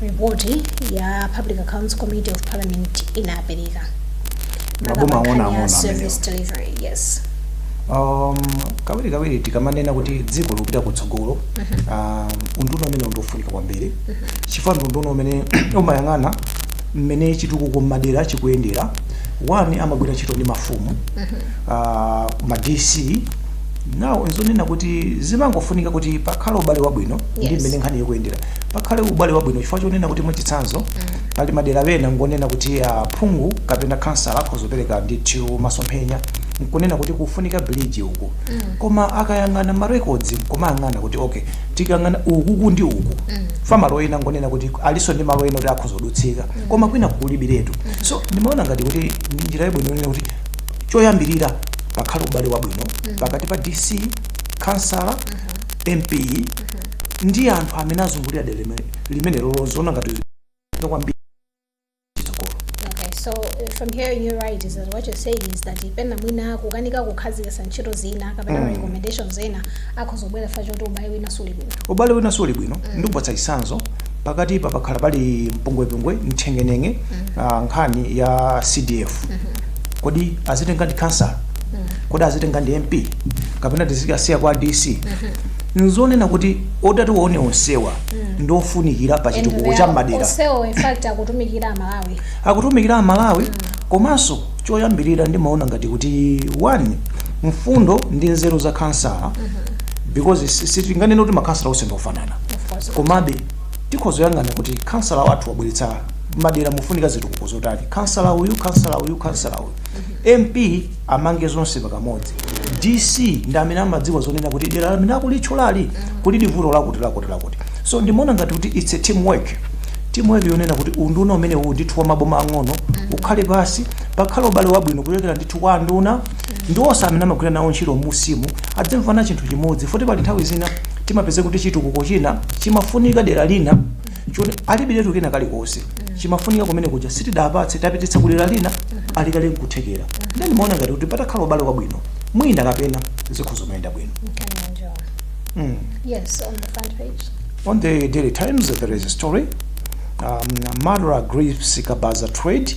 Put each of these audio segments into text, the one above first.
ripoti ya public accounts committee of parliament inapereka Maboma Makamaka ang'ono ya ang'ono service delivery yes um, kawiri kawiri tikamanena kuti dziko lipita kutsogolo um, unduna umene ndiofunika kwambiri chifukwa ndi unduna umene umayang'ana mmene chitukuko mmadera chikuyendera one amagwira ntchito ndi mafumu uh, ma dc nawo nzonena kuti zimangofunika kuti pakhale ubale wabwino ndi Yes. mmene nkhani ikuyendera pakhale ubale wabwino chifukwa chonena kuti mwachitsanzo pali madera ena ngonena kuti aphungu kapena kansala akhoza kupereka ndithu masomphenya nkunena kuti kukufunika bridge uku koma akayang'ana ma records nkumayang'ana kuti okay tikayang'ana ukuku ndi uku fa malo ena ngonena kuti aliso ndi malo ena kuti akhoza kudutsika koma kwina kukulibiretu so ndimaona ngati kuti ndi njira yabwino yonena kuti choyambirira pakhale ubale wabwino pakati pa dc kansala mp ndi anthu amene azungulira dera limene- limenelo loziona ngati zofunika kwambiri chitsogolo Okay, so uh, from hearing you right is that what you're saying is that pena mwina kukanika kukhazikisa ntchito zina kapena recommendations zina zikhozobwera fa choti ubale wina suli bwino ubale wina suli bwino ndikupatsa chitsanzo pakati pa pakhala pali mpungwepungwe nthengenenge ah, nkhani ya cdf kodi azitenga ndi kansala kodi azitenga ndi mp kapena tizikasiya kwa dc nzonena kuti otatuwa onsewa ndi ofunikira pa And chitukuko they cha are mmadera onsewo in fact akutumikira amalawi akutumikira amalawi komanso choyambirira ndimaona ngati kuti one mfundo ndi nzeru za kansala because si- sitinganene kuti makansala onse ndiofanana of course komabe tikhoza kuyang'ana kuti kansala wathu wabweretsa mmadera mufunika zitukuko zotani kansala uyu kansala uyu kansala uyu mp amange zonse pakamodzi dc ndi amene amadziwa zonena kuti dera limene akulitchulali lili vuto lakuti lakuti lakuti so ndimaona ngati kuti its a team work team work yonena kuti unduna umene uwu ndithu wa maboma ang'ono ukhale pasi pakhale ubale wabwino kuchokera ndithu kwa anduna ndi onse amene amagwira nawo ntchito musiimu adzimvana chinthu chimodzi fa kuti pali nthawi zina timapeza kuti chitukuko china chimafunika dera lina choti alibiretu kena kalikonse chimafunika kumene kuja sitidapatse tapititsa kudera lina ali kale nkuthekera nde ndimaona ngati kuti patakhala ubale wabwino mwina kapena zikhozomayenda bwino Mkanyanjwa. mm. Yes, on the front page. On the Daily Times, there is a story. Um, Murder Grips Kabaza Trade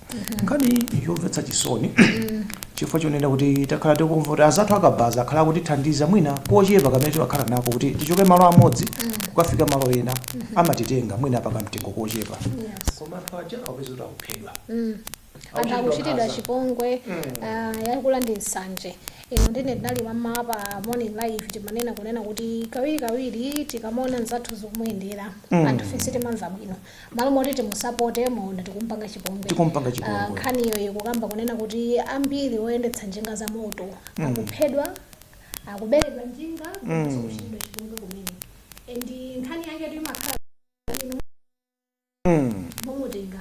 nkhani yomvetsa chisoni chifukwa chonena kuti takhala tikumva kuti azathu akabaza akhala akutithandiza mwina kochepa kamene timakhala nako kuti tichoke malo amodzi kukafika malo ena amatitenga mwina pakamtengo kochepa koma anthu aja akupezeka kuti akuphedwa anthu akuchitidwa chipongwe ah, yakula ndi nsanje ino ndine ndinali mmamawa pa morning live timanena kunena kuti kawirikawiri tikamaona mzathu zikumuyendera anthufe si timamva bwino Malo moti timusapote mwaona tikumupanga chipongwe. Tikumupanga Ah, chipongwe. nkhaniyo ikukamba kunena kuti ambiri oyendetsa njinga za moto akuphedwa akuberedwa njinga komanso kuchitidwa chipongwe kumene and nkhanza yake timakhala Mm. momutenga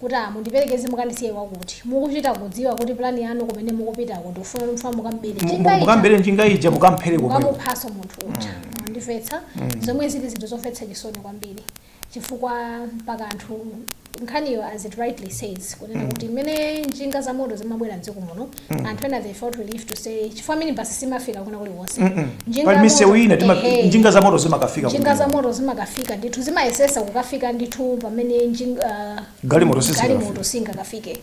kuti ah, mundiperekeze mukandisiye kwakuti mukuchita kudziwa kuti plani yanu kumene mukupita kuti ukufuna mukambere Mu- mu- Mukambere njinga ija mukamphere komweko. mukamuphaso munthu uja mwandimvetsa zomwe zili zinthu zomvetsa chisoni kwambiri chifukwa mpaka anthu nkhaniyo as it rightly says kunena kuti mmene njinga za moto zimabwera mdziko muno anthu ena they felt relief to say chifukwa minibus simafika kwina kulikonse Njinga pali ya misewu moto- ina tima- ehe. njinga za moto zimakafika njinga za kumene. moto zimakafika ndithu zimayesesa kukafika ndithu pamene njinga- ah, Galimoto sizikafika. galimoto singakafike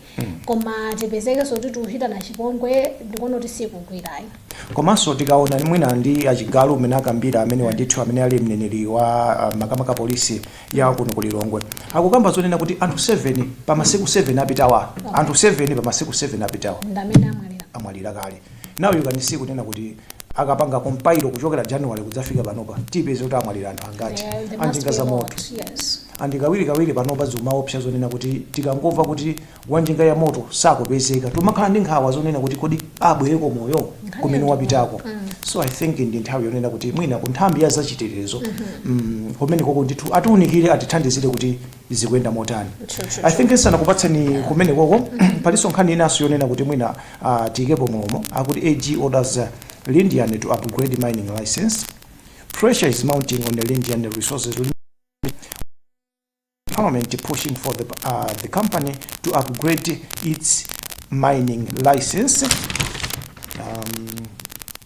koma tipezekenso kuti tikuchitana chipongwe ndikuona kuti sizikugwira ayi komanso tikaona mwina ndi achigalu umene akambira amene wandithu amene ali mneneri wa ah, makamaka polisi ya kuno ku lilongwe akukamba zonena kuti anthu 7 pa masiku 7 apitawa anthu 7 pa masiku 7 apitawa ndi amene amwalira amwalira kale Now you can see kunena kuti akapanga compile kuchokera January kudzafika panopa tipeza kuti amwalira anthu angati Yeah, there must anjinga be za a moto lot. Yes. and kawirikawiri panopa zimaopsa zonena kuti tikangomva kuti wanjinga ya moto sakupezeka timakhala ndi nkhawa zonena kuti kodi abwereko moyo kumene wapitako so i think ndi nthawi yonena kuti mwina ku nthambi ya zachitetezo mm, kumenekoko ndithu atiunikire atithandizire kuti zikuyenda motani True, true, i think ndisanakupatseni kumene koko palinso nkhani inanso yonena kuti mwina ah, tiyikepo mulomo akuti ag orders uh, lindian to upgrade mining license pressure is mounting on the lindian resources parliament pushing for the, uh, the company to upgrade its mining license um,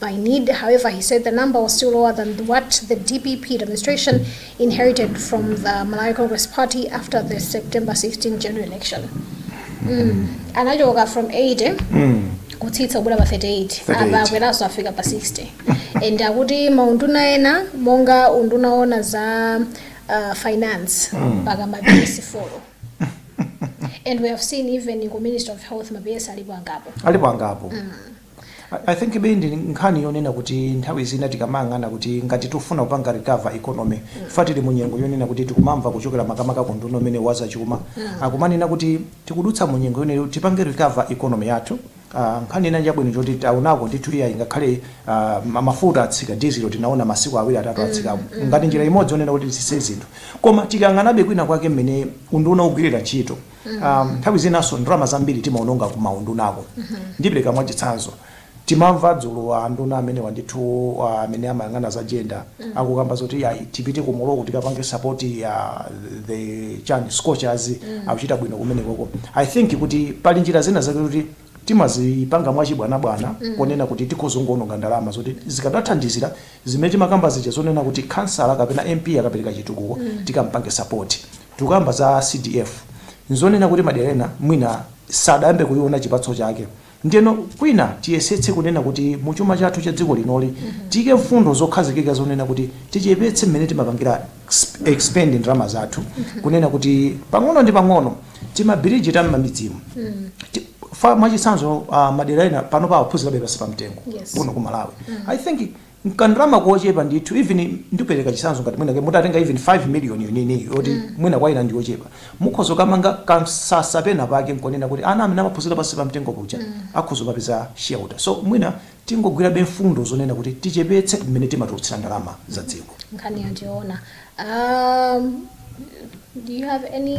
by need. However, he said the number was still lower than what the DPP administration inherited from the Malawi Congress Party after the September 16 general election. Mm. Anachoka from 80 kutsitsa kubwera pa 38 38. apa akweranso afika pa 60 and akuti maunduna ena monga unduna oona za uh, finance mpaka maPS folo and we have seen even ku ministry of health maPS alipo angapo alipo angapo I think ibe ndi nkhani yonena kuti nthawi zina tikamayang'ana kuti ngati tikufuna kupanga recover economy chifukwa tili mu nyengo yonena kuti tikumamva kuchokera makamaka ku unduna umene wazachuma akumanena kuti tikudutsa mu nyengo yonena kuti tipange recover economy yathu ah, nkhani ina nchabwino choti taonako ndithu iyayi ngakhale ah, ma- mafuta atsika dizilo tinaona masiku awiri atatu atsikapo ngati njira imodzi yonena kuti tisise zinthu koma tikayang'anabe kwina kwake mmene unduna ugwirira ntchito um, nthawi zinanso ndalama zambiri timaononga ku maundunako ndipereka mwachitsanzo timamva dzulo a nduna amenewa ndithu ah, amene amayang'ana za gender akukamba zoti ayi tipite ku Morocco tikapange support ya the scorchers akuchita bwino kumenekoko i think kuti pali njira zina zake kuti timazipanga mwachibwanabwana ponena kuti tikhoza kungoononga ndalama zoti zikadathandizira zimene timakamba zija zonena kuti kansala kapena mp akapereka chitukuko tikampange support Tikukamba za CDF, n'zonena kuti madera ena mwina sadayambe kuiona chipatso chake. Ndiyeno kwina tiyesetse kunena kuti mu chuma chathu cha dziko linoli tiike mfundo zokhazikika zonena kuti tichepetse mmene timapangira expend ndalama zathu, kunena kuti pang'ono ndi pang'ono timabridge ta m'mamidzimu chifukwa mwachitsanzo, ah, madera ena panopa akuphunzirabe pansi pa mtengo Yes. kuno ku Malawi. I think nkandalama kochepa ndithu even ndipeleka chisanzo ngati mwina mutatenga even 5 million yomweyi yoti mwina kwa ena ndiyochepa mukhoza kukamanga kamsasa pena pake nkonena kuti ana amene amaphunzira pansi pa mtengo paja akhoza kukapeza shelter so mwina tingogwirabe mfundo zonena kuti tichepetse mmene timatulutsira ndalama za dziko nkhani yachiona um, do you have any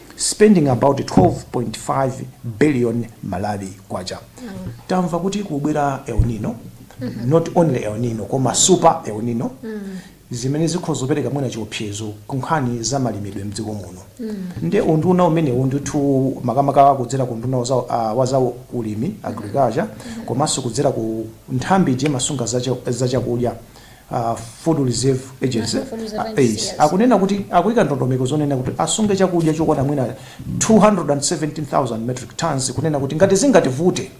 spending about 12.5 billion malawi kwacha tamva kuti kubwera el nino not only el nino koma super el nino zimene zikhoza kupereka mwina chiopsezo kunkhani za malimidwe mdziko muno nde unduna umenewu ndithu makamaka kudzera ku unduna waza- ah, wa za ulimi agriculture komanso kudzera ku nthambi ija imasunga za cha- za chakudya a Food Reserve Agency, ARAs, akunena kuti akuika ndondomeko zonena kuti asunge chakudya chokwana mwina 217,000 metric tons kunena kuti ngati zingativute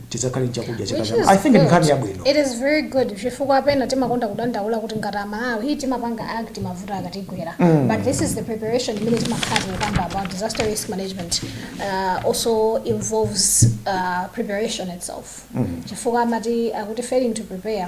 tidzakhale ndi chakudya chaka Which chamawa. is I think ndi good. nkhani yabwino. It is very good chifukwa pena timakonda kudandaula kuti ngati amalawi hii timapanga act mavuto akatigwera but this is the preparation imene timakhala tikukamba about disaster risk management uh, also involves uh, preparation itself chifukwa amati akuti failing to prepare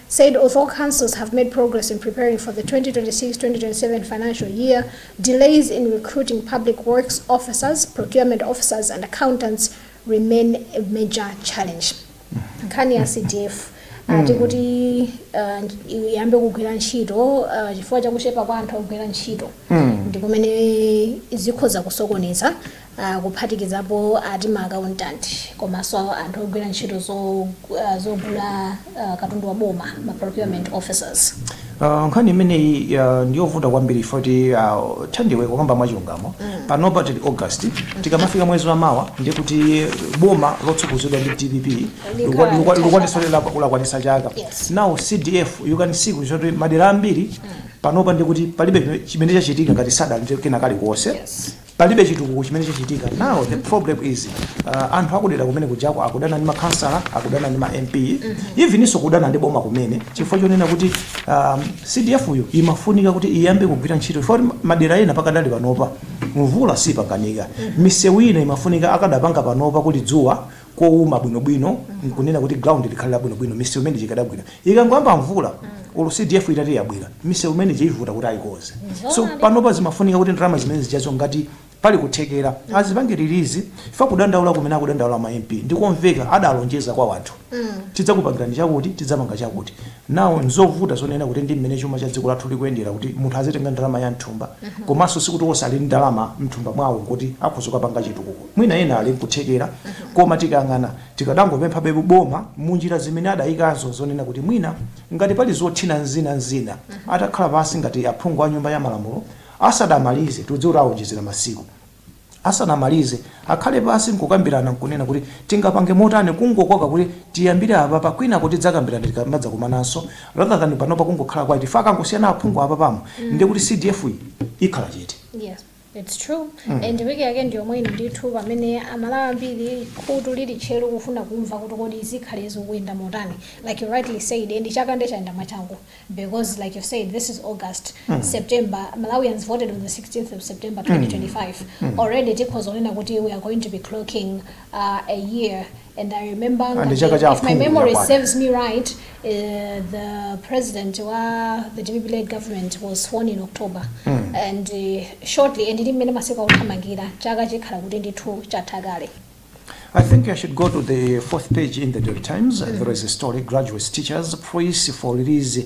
said although councils have made progress in preparing for the 2026, 2027 financial year, delays in recruiting public works officers, procurement officers and accountants remain a major challenge. nkhani ya cdf ah, tikuti ah, iyambe kugwira ntchito ah, chifukwa chakuchepa kwa anthu ogwira ntchito ndi kumene zikhoza kusokoneza kuphatikizapo ati ma accountant komanso anthu ogwira ntchito zogula katundu wa boma, ma procurement officers. Uh, nkhani imeneyi uh, ndiyovuta kwambiri foti uh, thandiwe kukamba mwachilungamo mm. panopa tili august tikamafika mwezi wa mawa ndiye kuti boma lotsogozedwa ndi dpp likwanitsa chaka yes. now cdf you can see kuti madera ambiri mm. panopa ndikuti palibe chimene chachitika ngati sadali kena kalikonse yes. Palibe chitukuko chimene chachitika now the problem is uh, anthu akudera kumene kujako akudana ndi makhansala akudana ndi ma MP eveninso kudana ndi boma kumene chifukwa chonena kuti um, CDF yo imafunika kuti iyambe kugwira ntchito chifukwa kuti madera ena pakadali panopa mvula sipangika misewu ina imafunika akadapanga panopa kuli dzuwa kowuma bwinobwino nkunena kuti ground likhale labwinobwino misewu imene ija ikadabwino ikangoyamba mvula olo cdf itati yabwera misewu imene ija ivuta kuti ayikonze so panopa zimafunika kuti ndalama zimene zijazo ngati pali kuthekera azipange release for kudandaula kumene akudandaula ma mp ndikomveka adalonjeza kwa wanthu tidzakupangirani chakuti tidzapanga chakuti now nzovuta zonena kuti ndi mmene chuma cha dziko lathu chikuyendera kuti munthu azitenga ndalama za mthumba komanso sikuti onse ali ndi ndalama mthumba mwawo kuti akhoza kukapanga chitukuko Mwina ena ali nkuthekera koma tikayang'ana tikadangopemphabe boma munjira zimene adayikazo zonena kuti mwina ngati pali zothina nzina nzina atakhala pansi ngati aphungu a nyumba ya malamulo asadamalize tikudziwa kuti awonjezera masiku asanamalize akhale pansi nkukambirana nkunena kuti tingapange motani kungokoka kuti tiyambire apapa kwinako tidzakambirana tikamadzakumananso rather than panopa kungokhala quiet chifukwa akangosiyana aphungu apapa mm ndiye kuti CDF yi ikhala chete. Yes. Its true mm. And wiki yake ndi yomwe ino ndithu pamene amalawi ambiri khutu lili tcheru kufuna kumva kuti kodi zikhale zikuyenda motani like you rightly said and chaka nde chayenda mwachangu because like you said this is August mm. September Malawians voted on the 16th of September 2025 mm. mm. already tikhoza kunena kuti we are going to be clocking uh, a year And I remember Ah, ndi chaka cha if my aphungu memory yakwana. serves me right, uh, the president wa the DPP led government was sworn in October. And uh, shortly, and ndimene masiku akuthamangira chaka chikhala kuti ndithu chatha kale. I think I should go to the fourth page in the Daily Times. There is a story graduates, teachers praise for release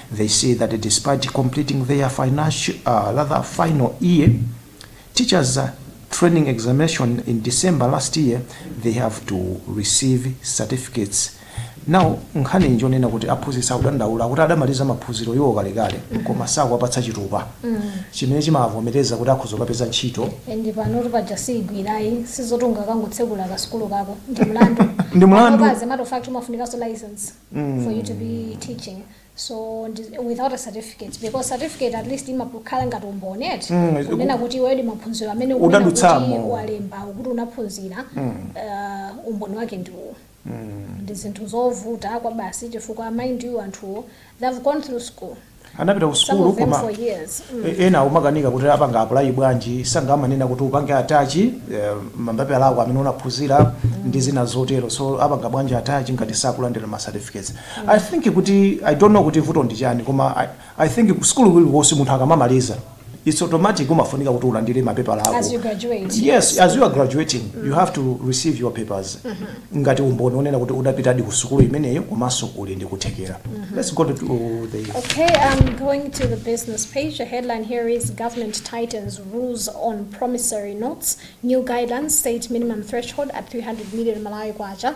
They say that despite completing their financial, uh, rather final year, teachers uh, training examination in December last year, they have to receive certificates. Now, nkhani njonena kuti aphunzitsi akudandaula kuti adamaliza maphunziro awo kalekale koma sakuwapatsa chitupa chimene chimavomereza kuti akhoza kupeza ntchito and panotu paja siigwirayi sizoti ungakangotsekula kasukulu kako ndi mlandu Ndi mlandu. Panopa, as a matter of fact umafunikanso license for you to be teaching so ndi- without a certificate because certificate at least imakhala ngati umboni eti Mm, is- kunena kuti iweyo ndi maphunziro amene ukunena kuti Udadutsamo. walemba kuti unaphunzira uh, umboni wake ndi uwo ndi zinthu zovuta kwambiri chifukwa mind you anthuwo they have gone through school anapita ku sukulu koma ena umakanika kuti apanga apply bwanji si amanena kuti upange attach eh, mapepala ako amene unaphunzira ndi zina zotero so apanga bwanji attach ngati sakulandira ma certificates i think kuti i don't know kuti vuto ndi chani koma i, I think ku sukulu kulikonse munthu akamamaliza it's automatic umafunika kuti ulandire mapepala ako As you graduate. yes as you are graduating you have to receive your papers ngati umboni onena kuti udapitadi ku sukulu imeneyo komanso uli ndi kuthekera let's go to the Okay, I'm going to the business page. The headline here is Government Tightens Rules on Promissory Notes. New guidelines state minimum threshold at 300 million Malawi kwacha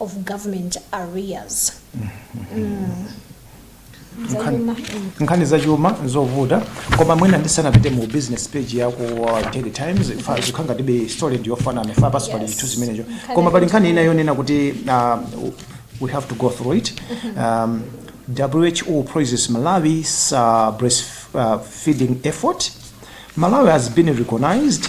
of government arrears zachuma mm. nkhani zachuma zovuta koma mwina ndisanapite mu business page ya ku daily times ifa- zikhala ngati story ndiyofanana fanapanso pali Yes. chithuzi chimenecho koma pali nkhani ina yonena kuti uh, we have to go through it um, WHO praises malawi's uh, breastfeeding effort malawi has been recognized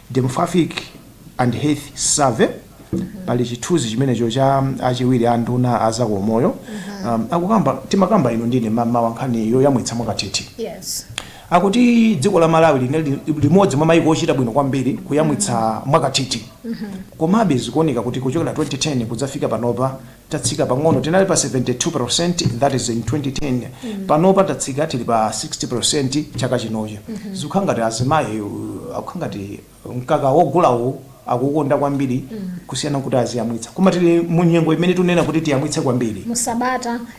Demographic and Health Survey, Pali chithuzi chimenecho cha achiwiri a nduna a za umoyo akukamba, timakamba inu ndine mammawa nkhani yoyamwitsa mwakathithi. Yes. Akuti dziko la Malawi linali limodzi mwa maiko ochita bwino kwambiri kuyamwitsa mwakathithi. Komabe zikuoneka kuti kuchokera 2010 kudzafika panopa tatsika pang'ono tinali pa 72% that is in 2010 mm. panopa tatsika tili pa 60% chaka chinochi mm -hmm. zikukhala ngati azimayi akukhala ngati mkaka wogulawo akukonda kwambiri mm. kusiyana kuti aziyamwitsa koma tili mu nyengo imene tunena kuti tiyamwitse kwambiri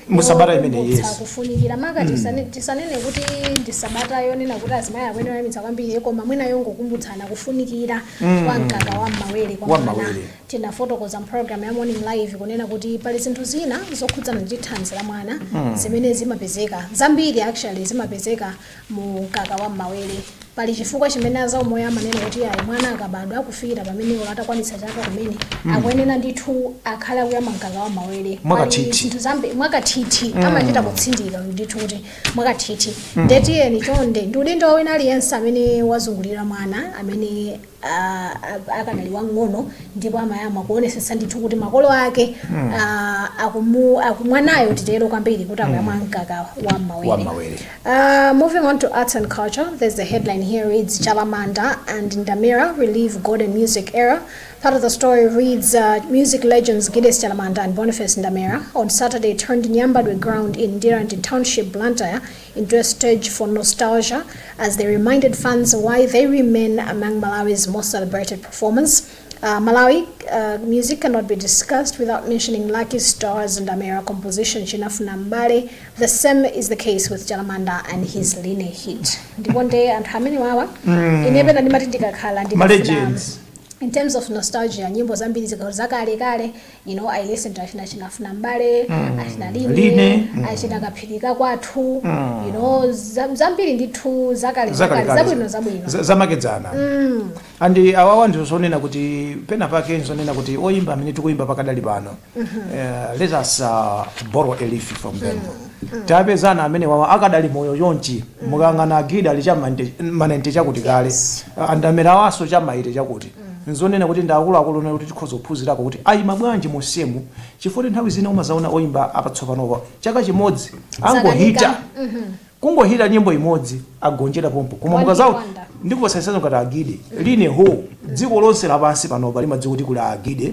musabata imene yes kufunikira maka mm. tisanene kuti ndi sabata yonena kuti azimayi akuyenera kuyamwitsa kwambiri koma mwina yongokumbutsana kufunikira mm. kwa mkaka wa mmawere kwa mwana Tinafotokoza m'pologalamu ya Morning Live kunena kuti pali zinthu zina zokhudzana ndi thanzi la mwana zimene zimapezeka zambiri actually zimapezeka mu mkaka wa m'mawere pali chifukwa chimene azaumoyo amanena kuti ayi mwana akabadwa kufikira pamene atakwanitsa chaka kumene akuyenera ndithu akhale akuyamwa mkaka wa m'mawere Mwakathithi. Pali zinthu zambi mwakathithi amachita kutsindika ndithu kuti mwakathithi ndetiyeni chonde ndi udindo wina aliyense amene wazungulira mwana amene akanali wamng'ono ndipo amayamwa kuonesetsa ndithu kuti makolo ake akumwanayo titero kwambiri kuti akuyamwa mkaka wa mmawere uh, moving on to arts and culture there's the headline here reads chalamanda and ndamira relive golden music era part of the story reads uh, music legends giddes chalamanda and boniface ndamira on saturday turned nyambadwe ground in ndirande township blantyre Interested for nostalgia as they reminded fans why they remain among Malawi's most celebrated performers. Uh, Malawi uh, music cannot be discussed without mentioning Lucky Stars and Amera composition Chinafuna Mbale. The same is the case with Jalamanda and his Line hit. Ndipo nde anthu amene wawa inebe ndimati ndikakhala ndikafuna- Malegends. in terms of nostalgia nyimbo zambiri zikakhala zakale kale you know i listen to achina achina afuna mbale mm. achina line, line. Mm. achina kaphirika kwathu mm. you know zambiri ndithu zakale zakale zabwino zabwino zamakedzana mm. and awawa ndi zonena kuti pena pake nzonena kuti oyimba amene tikuyimba pakadali pano mm -hmm. uh, let us uh, borrow a leaf from them mm. Mm. tapezana amene wawa akadali moyo chonchi mm. mukayang'ana a Gide ali chaka naintechakuti kale yes. a Ndamira nawonso chaka eyitechakuti nzonena kuti ndi akuluakulu onena kuti tikhoza kuphunzirako kuti ayima bwanji monsemu chifukwa nthawi zina umadzaona oyimba apatsopano apa chaka chimodzi angohita kungohita nyimbo imodzi agonjera pompo koma mukadzaona One hit wonder. ndikupasanisana ngati agide line ho dziko lonse lapansi panopa limadziwa kuti kuli agide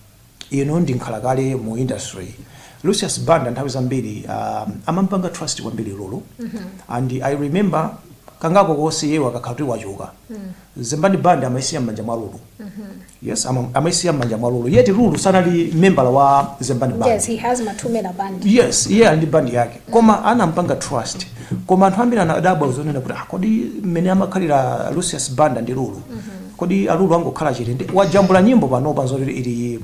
inu ndi nkhalakale mu industry Lucius Banda nthawi zambiri um, amampanga trust kwambiri lulu and i remember kangapo konse iyeyo akakhala kuti wachoka zembani band amaisiya m'manja mwa lulu yes ama- amaisiya m'manja mwa lulu yet lulu sanali membala wa zembani band yes he has mathumela band yes iye ali ndi band yake koma anampanga trust koma anthu ambiri anadabwa zonena kuti "Ah, kodi mmene amakhalira lucius banda ndi lulu Kodi alulu sangakhale chete ndiye wajambula nyimbo panopa zoti ili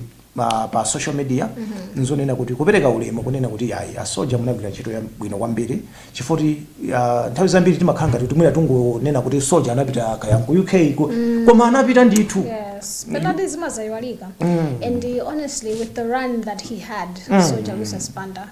pa social media nzonena kuti kupereka ulemu kunena kuti yayi a soldier munagwira ntchito yabwino kwambiri chifoti uh, nthawi zambiri timakhala ngati kuti mwina tungonena kuti soldier anapita kaya ku UK ku, koma anapita ndithu Yes, but sadzaiwalika. And uh, honestly, with the run that he had, Soldier Lucius Banda,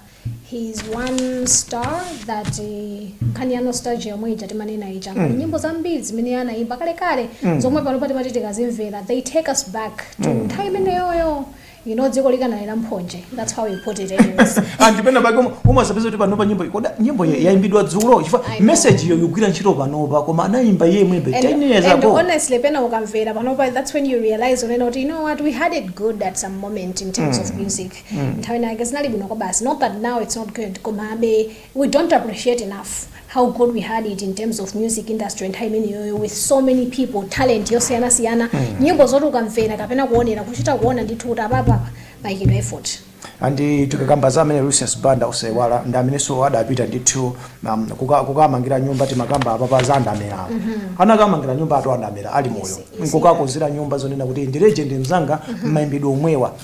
He's one star that eh, nkhani ya nostalgia yomwe ija timanena ija mm. nyimbo zambiri zimene anayimba kalekale mm. zomwe panopa timati tikazimvera they take us back to mm. nthawi imeneyoyo you know dziko likanali la mphonje that's how we put it anyways and penapake umadzapeza kuti panopa nyimbo ngati nyimbo ya- yayimbidwa dzulo chifukwa I know. message yo ikugwira ntchito panopa koma anayimba iye maybe 10 years ago and honestly pena ukamvera panopa that's when you realize unena kuti you know what we had it good at some moment in terms of music nthawi ina yake zinali bwino kwabasi not that now it's not good komabe we don't appreciate enough how good we had it in terms of music industry nthawi imeneyoyo with so many people talent yosiyanasiyana nyimbo zoti ukamvera kapena kuonera kuchita kuona ndithu kuti apapa apa payikidwa effort and tikakamba za amene lucius banda osaiwala ndi amenenso adapita ndithu um, kuka- kukamangira nyumba timakamba apapa za a Namaderawo anakamangira nyumba yatu a Namadera ali moyo nkukakonzera nyumba zonena kuti ndi legend mzanga mmayimbidwe omwewa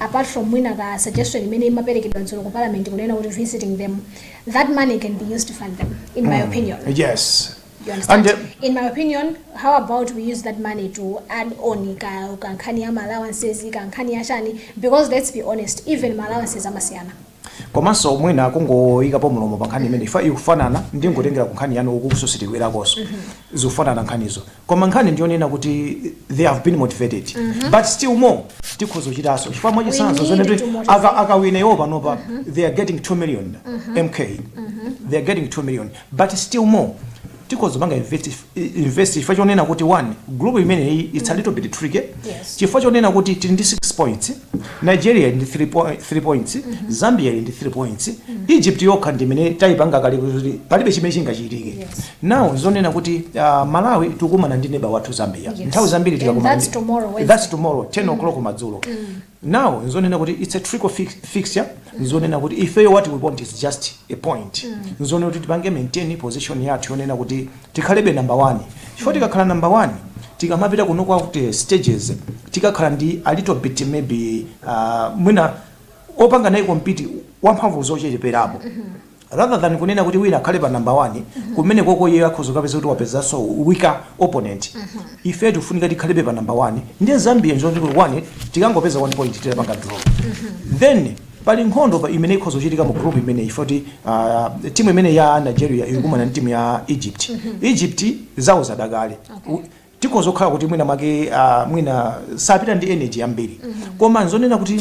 apart from mwina ka suggestion imene imaperekedwa dzulo ku parliament kunena kuti visiting them that money can be used to fund them in my opinion yes You understand? And, uh, in my opinion how about we use that money to add on ka ka nkhani ya ma allowances ka nkhani ya chani because let's be honest even ma allowances amasiyana komanso mwina kungoyikapo mlomo pa nkhani imene ija ikufanana ndingotengera ku nkhani yanu ukonso sitikubwerakonso zikufanana nkhanizo koma nkhani ndiyonena kuti they have been motivated mm -hmm. but still more tikhoza kuchitanso chifukwa mwachitsanzo zonena kuti akawina iwo panopa mm -hmm. they are getting 2 million mm -hmm. mk mm -hmm. they are getting 2 million but still more tikhoza kupanga invest chifukwa chonena kuti one group imeneyi it's a little bit tricky chifukwa chonena kuti tili ndi 6 points nigeria ili ndi 3 po- 3 points zambia ili ndi 3 points egypt yokha ndi imene taipanga kale kuti palibe chimene chingachitike now zonena kuti uh, malawi tukumana ndi neba wathu zambia Yes. nthawi zambiri And tikakumana that's ndi- tomorrow, Wednesday. that's tomorrow 10 o'clock madzulo now nzonena kuti it's a tricky fix, fixture nzonena kuti ifeyo what we want is just a point nzonena kuti tipange maintain position yathu yonena kuti tikhalebe number one chifukwa tikakhala number one tikamapita ku knockout stages tikakhala ndi a little bit maybe uh, mwina opanga naye compete wamphamvu zocheperapo rather than kunena kuti wina akhale pa number one kumene koko iye akhoza kapeza kuti wapezanso weaker opponent ife tifunika tikhalebe pa number one ndiye zambia nzoti kuti one tikangopeza one point titapanga draw then Pali nkhondo pa imene ikhoza kuchitika mu group imeneyi poti uh, timu imene ya Nigeria ikukumana ndi timu ya Egypt. Egypt zawo zada kale. U- Tikhoza kukhala kuti mwina mwake uh, mwina sapita ndi energy yambiri. Koma nzonena kuti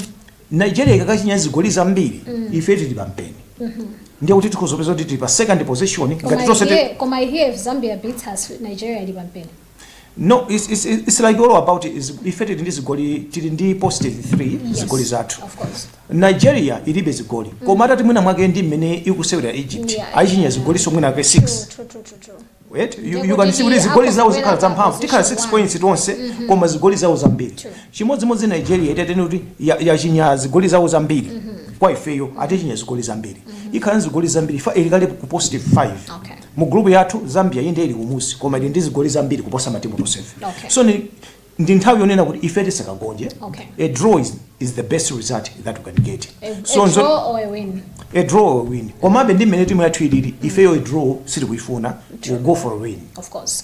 Nigeria ikakachinya zigoli zambiri ife tili pampeni. Ndiye kuti tikhoza kupeza kuti tili pa second position Koma ngati tonse ti- here, koma here if Zambia beats us, Nigeria ili pampeni. No, it's, it's, it's like all about is ife tili ndi zigoli tili ndi positive 3 Yes, zigoli zathu of course. nigeria ilibe zigoli koma atati mwina mwake ndi mmene ikusewera egypt Yeah, aichinya yeah. zigoli so mwina mwake 6 True, true, true, true, true. Right? You, Ndipo you can see kuti tili zigoli zawo akugwera zikhala pa zamphamvu tikhala 6 position points tonse koma zigoli zawo zambiri True. chimodzimodzi nigeria titanene kuti ya- yachinya zigoli zawo zambiri kwa ifeyo atichinya zigoli zambiri ikhala ndi zigoli zambiri chifukwa ili kale ku positive 5 Okay. Mu group yathu Zambia inde ili kumusi koma ili ndi zigoli zambiri kuposa matimu tonsefe. Okay. So ni ndi nthawi yonena kuti ife tisakagonje. Okay. A draw is, is the best result that we can get. A, so a draw or a win. A draw or a win. Komabe ndi mmene timu yathu ilili ifeyo a draw sitili kuifuna. We'll go for a win. Of course.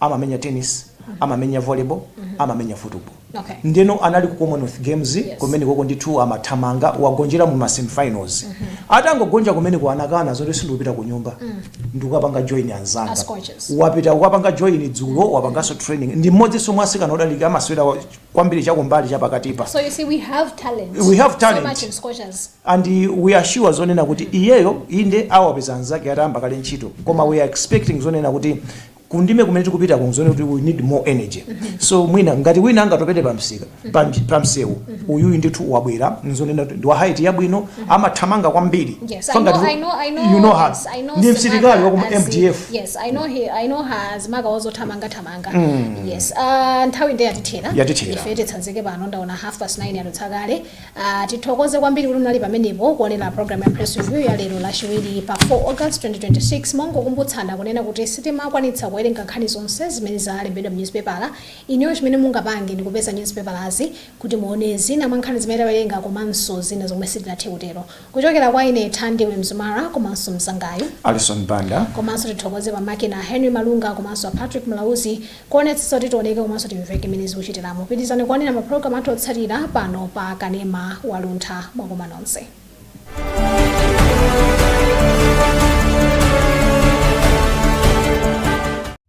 amamenya tennis amamenya volleyball amamenya football Okay. ndeno anali ku commonwealth games Yes. kumene koko ndithu amathamanga wagonjera mu masemifinals atangogonja kumeneku anakana zoti sindikupita ku nyumba ndikukapanga join anzanga As coaches. wapita kukapanga join dzulo wapanganso training ndi mmodzinso mwa asikana odalirika amasewera kwambiri chakumbali chapakatipa So you see, we have talent. We have talent. So much in scorchers. and we are sure zonena kuti iyeyo inde awapeza anzake atayamba kale ntchito koma we are expecting zonena kuti kundime kumene tikupitaku zonena kuti we need more energy so mwina ngati wina angatopere pa msika pa mji- pa msewu uyuyu ndithu wabwera nzonena kuti ndi wa height yabwino amathamanga kwambiri Yes, So I know, ngati- I know, I know. you know her yes, I know ndi Simaka msilikali wa ku as- mdf Yes, I know he, I know her as Maga also Tamanga Tamanga. manga yes uh, nthawi nde yatithera Yatithera. ife titsanzike pano ndaona half past 9 yadutsa kale uh, tithokoze kwambiri kuti munali pamenepo kuonera program ya press review ya lero lachiwiri pa 4 august 2026 mongokumbutsana kunena kuti sitimakwanitsa kuwerenga nkhani zonse zimene zalembedwa mu newspapala inuyo chimene mungapange ndi kupeza newspapalazi kuti muone zina mwa nkhani zimene tawerenga komanso zina zomwe sitinathe kutero Kuchokera kwa ine Thandiwe Mzumara komanso mzangayu. Alison Banda. Komanso tithokoze pa makina Henry Malunga komanso a Patrick Mlauzi kuonetsetsa kuti tioneke komanso timveke mmene zikuchitiramu. Pitilizani kuonera ma program athu otsatira pano pa Kanema wa Luntha. Mwakoma nonse.